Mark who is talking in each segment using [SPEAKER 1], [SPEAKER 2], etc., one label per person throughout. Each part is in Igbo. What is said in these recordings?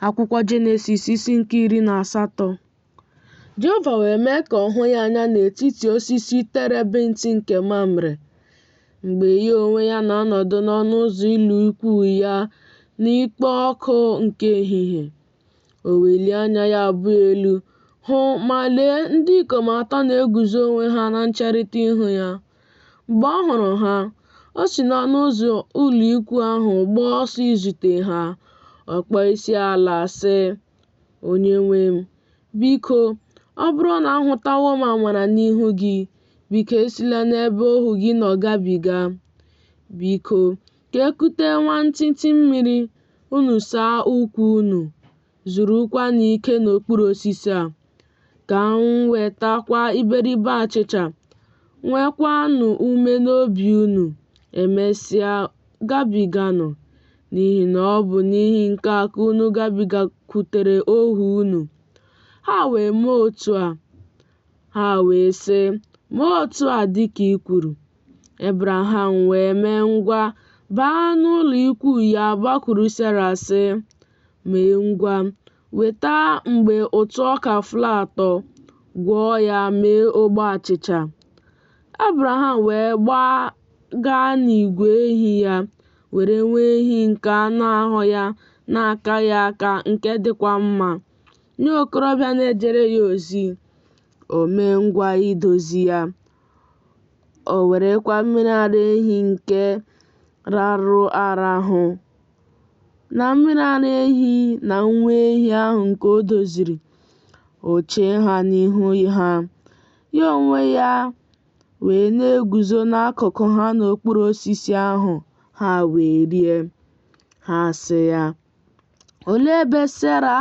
[SPEAKER 1] akwụkwọ jenesis isi nke iri na asatọ jehova wee mee ka ọ hụ ya anya n'etiti osisi terebint nke mamre mgbe ya onwe ya na-anọdụ n'ọnụ ụzọ ụlọ ikwu ya n'ikpo ọkụ nke ehihie o welie anya ya abụọ elu hụ ma lee ndị ikom atọ na-eguzo onwe ha na ncherịta ihu ya Mgbe ọ hụrụ ha, o si n'ọnụ ụzọ ụlọikwu ahụ gbaa ọsọ izute ha, ọ kpọọ isiala sị, Onyenwe m, biko, ọ bụrụ na ahụtawo m amara n'ihu gị, biko esila n'ebe ohu gị nọ gabiga. Biko, ka e kute nwantịntị mmiri, unu saa ụkwụ unu. zurukwanụ ike n'okpuru osisi a, ka m wetakwa iberibe achịcha, nwekwanụ ume n'obi unu, emesịa gabiganụ, n'ihi na ọ bụ n'ihi nke a ka unu gabigakwutere ohu unu. Ha wee mee otu a. Ha wee sị, Mee otu a dị ka i kwuru. Ebraham wee mee ngwa baa n'ụlọ ikwu ya gbakwuru Sera sị, mee ngwa weta mgbe ụtụ ọka flour atọ gwọọ ya mee ogbe achịcha ebraham wee gbaa gaa n'igwe ehi ya were nwa ehi nke anụ ahụ ya na-akaghị aka nke dịkwa mma nye okorobịa na-ejere ya ozi o mee ngwa idozi ya o werekwa mmiri ara ehi nke rarụ arahụ Na mmiri ara ehi na nwa ehi ahụ nke o doziri, o chee ha n'ihu ha, ya onwe ya wee na-eguzo n'akụkụ ha n'okpuru osisi ahụ, ha wee rie. Ha sị ya, Olee ebe Sera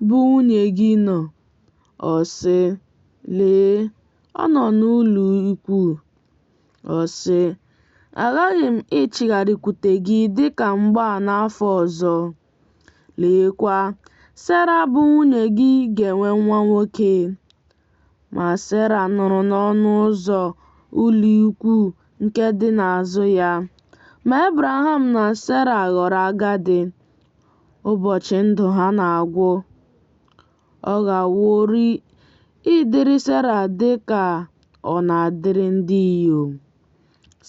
[SPEAKER 1] bụ nwunye gị nọ? Ọ sị, Lee, ọ nọ n'ụlọikwuu. Ọ sị, Aghaghị m ịchịgharịkwute gị dị ka mgbe a n'afọ ọzọ. Leekwa, Sera bụ nwunye gị ga-enwe nwa nwoke. Ma Sera nụrụ n'ọnụ ụzọ ụlọikwuu nke dị n'azụ ya. Ma Ebraham na Sera ghọrọ agadi, ụbọchị ndụ ha na-agwụ. Ọ ghaworị ịdịrị Sera dị ka ọ na-adịrị ndị inyom.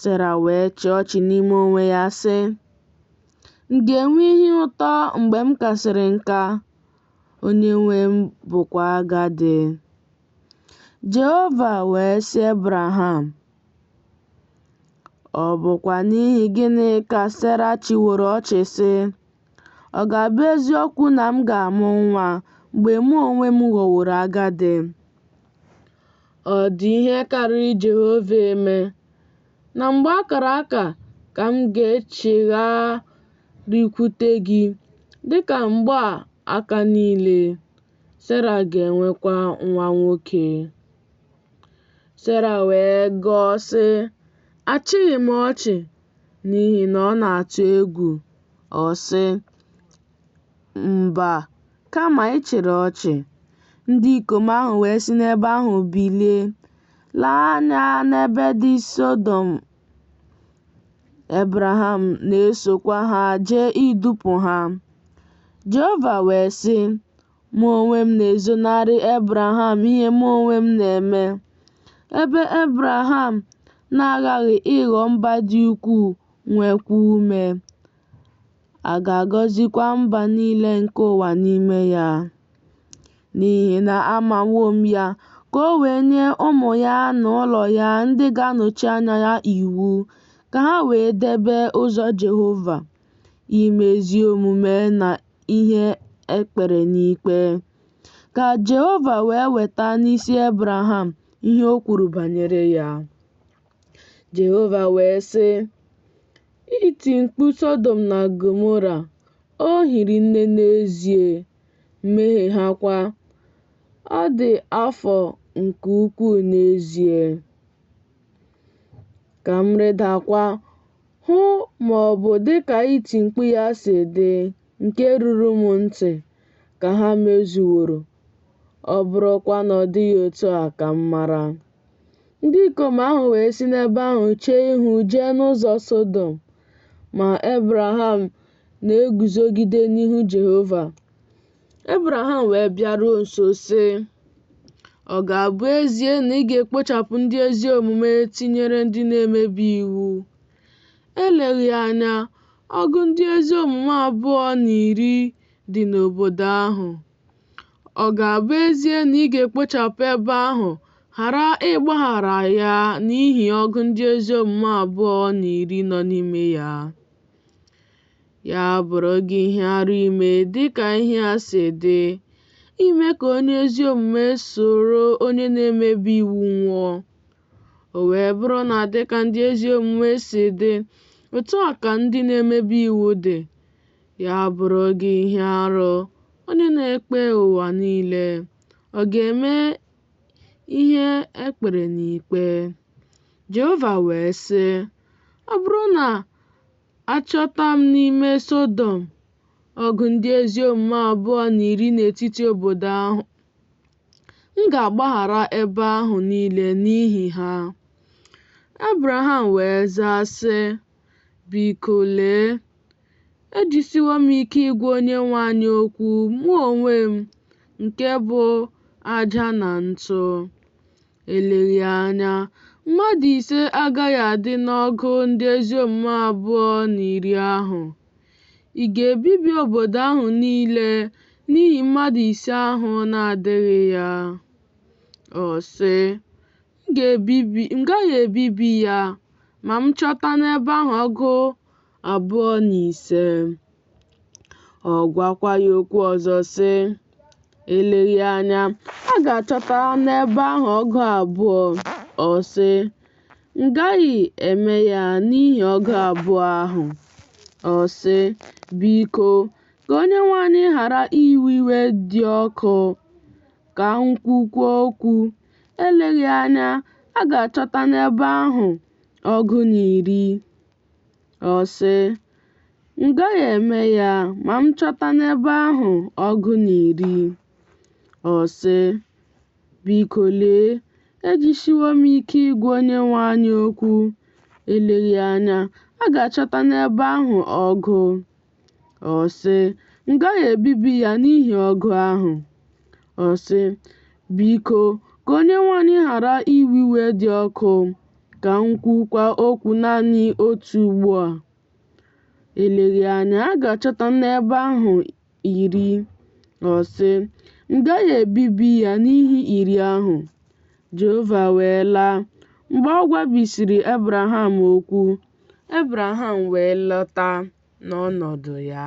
[SPEAKER 1] Sera wee chịa ọchị n'ime onwe ya, sị, M ga-enwe ihe ụtọ mgbe m kasịrị nka, onye nwe m bụkwa agadi. Jehova wee sị Ebraham, Ọ bụkwa n'ihi gịnị ka Sera chịworo ọchị sị, Ọ ga-abụ eziokwu na m ga-amụ nwa mgbe mụ onwe m ghọworo agadi? Ọ dị ihe karịrị Jehova eme na mgbe a kara aka ka m ga-echigharịkwute gị dị ka mgbe aka niile, Sera ga-enwekwa nwa nwoke. Sera wee gọọ, sị, Achịghị m ọchị. n'ihi na ọ na-atụ egwu, ọ sị, Mba, kama ị chịrị ọchị, ndị ikom ahụ wee si n'ebe ahụ bilie, lee anya n'ebe dị Sọdọm, Ebraham na-esokwa ha jee idupụ ha. Jehova wee sị, mụ onwe m na-ezonarị Ebraham ihe mụ onwe m na-eme. Ebe Ebraham na-aghaghị ịghọ mba dị ukwuu nwekwa ume, a ga-agọzikwa mba niile nke ụwa n'ime ya. N'ihi na amawo m ya, ka o wee nye ụmụ ya na ụlọ ya ndị ga-anọchi anya ya iwu, ka ha wee debe ụzọ Jehova. ime ezi omume na ihe e kpere n'ikpe. Ka Jehova wee weta n'isi Ebraham ihe o kwuru banyere ya. Jehova wee sị, Iti mkpu Sọdọm na Gomora, o hiri nne n'ezie, mmehie ha kwa, ọ dị afọ nke ukwuu n'ezie. Ka m rịdakwa, hụ ma ọ bụ dị ka iti mkpu ya si dị nke ruru m ntị, ka ha mezuworo, ọ bụrụkwa na ọ dịghị otu a ka m mara. Ndị ikom ahụ wee si n'ebe ahụ chee ihu jee n'ụzọ Sọdọm, ma Ebraham na-eguzogide n'ihu Jehova. Ebraham wee bịaruo nso sị, Ọ ga-abụ ezie na ị ga-ekpochapụ ndị ezi omume tinyere ndị na-emebi iwu? Eleghị anya, ọgụ ndị ezi omume abụọ na iri dị n'obodo ahụ. Ọ ga-abụ ezie na ị ga-ekpochapụ ebe ahụ ghara ịgbaghara ya n'ihi ọgụ ndị ezi omume abụọ na iri nọ n'ime ya? Ya bụrụ gị ihe arụ ime dị ka ihe a si dị, ime ka onye ezi omume soro onye na-emebi iwu nwụọ. O wee bụrụ na dị ka ndị ezi omume si dị, otu a ka ndị na-emebi iwu dị. Ya bụrụ gị ihe arụ, onye na-ekpe ụwa niile, ọ ga-eme ihe e kpere n'ikpe. Jehova wee sị, Ọ bụrụ na Achọta m n'ime Sọdọm ọgụ ndị ezi omume abụọ na iri n'etiti obodo ahụ. M ga-agbaghara ebe ahụ niile n'ihi ha. Abraham wee zaa sị, Biko lee, ejisiwo m ike ịgwa Onyenwe anyị okwu, mụ onwe m, nke bụ aja na ntụ. Eleghị anya, mmadụ ise agaghị adị n'ọgụ ndị ezi omume abụọ na iri ahụ. Ị ga-ebibi obodo ahụ niile n'ihi mmadụ ise ahụ na-adịghị ya? Ọ sị, M gaghị ebibi ya ma m chọta n'ebe ahụ ọgụ abụọ na ise. Ọ gwakwa ya okwu ọzọ sị, eleghị anya a ga-achọta n'ebe ahụ ọgụ abụọ. Ọ sị, m gaghị eme ya n'ihi ọgụ abụọ ahụ. Ọ sị, biko, ka Onyenwe anyị ghara iwe iwe dị ọkụ, ka m kwukwuo okwu, eleghị anya a ga-achọta n'ebe ahụ ọgụ na iri. Ọ sị, M gaghị eme ya ma m chọta n'ebe ahụ ọgụ na iri. Ọ sị, Biko lee, ejisiwo m ike ịgwa Onyenwe anyị okwu, eleghị anya a ga-achọta n'ebe ahụ ọgụ. Ọ sị, M gaghị ebibi ya n'ihi ọgụ ahụ. Ọ sị, Biko, ka Onyenwe anyị ghara iwe iwe dị ọkụ, ka m kwukwa okwu naanị otu ugbo a. Eleghị anya a ga-achọta n'ebe ahụ iri. Ọ sị, M gaghị ebibi ya n'ihi iri ahụ. Jehova wee laa mgbe ọ gwabisịrị Ebraham okwu. Ebraham wee lọta n'ọnọdụ ya.